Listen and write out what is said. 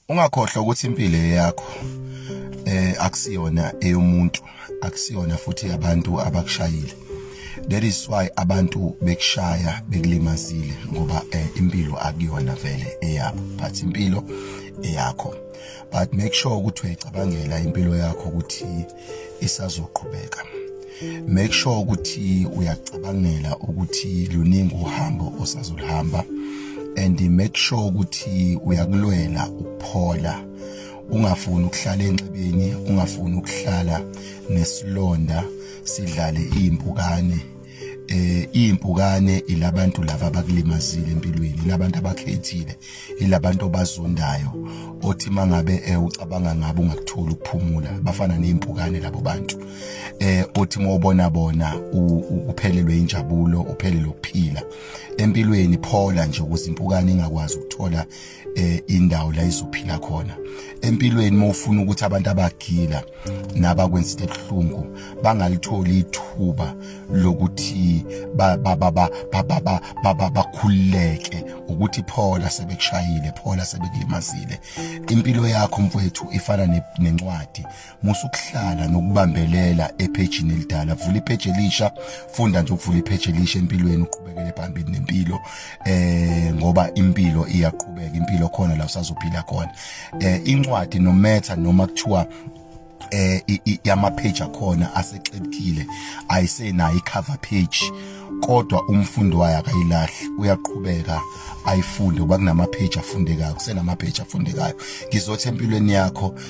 ungakhohlwa ukuthi impilo eyakho eh akusiyona eyomuntu akusiyona futhi abantu abakushayile that is why abantu bekushaya bekulimazile ngoba eh, impilo akuyona vele eyabo but impilo eyakho but make sure ukuthi uyicabangela impilo yakho ukuthi isazoqhubeka make sure ukuthi uyacabangela ukuthi luningi uhambo osazolihamba and make sure ukuthi uyakulwela ukuphola ungafuni ukuhlala enxebeni ungafuni ukuhlala nesilonda sidlale impukane eh impukane ilabantu lava abakulimazile empilweni ilabantu abakhethile ilabantu obazondayo othi mangabe eh, ucabanga ngabo ungakutholi ukuphumula bafana neimpukane labo bantu eh othi mawubona bona uphelelwe injabulo uphelelwe ukuphila empilweni phola nje ukuze impukane ingakwazi ukuthola eh indawo la izophila khona empilweni mawufuna ukuthi abantu abagila nabakwenzile ebuhlungu bangalitholi ithuba lokuthi bakhululeke ukuthi phola sebekushayile phola sebekulimazile impilo yakho mfowethu ifana nencwadi musa ukuhlala nokubambelela ephejini elidala vula ipheji elisha funda nje ukuvula ipheji elisha empilweni uqhubekele phambili nempilo eh ngoba impilo iyaqhubeka impilo khona la usazophila khona eh incwadi no matter noma kuthiwa eh yama page akhona asexebukile ayisenayo icover page kodwa umfundi wayo akayilahli uyaqhubeka ayifunde uba kunama page afundekayo kusenama page afundekayo ngizothi empilweni yakho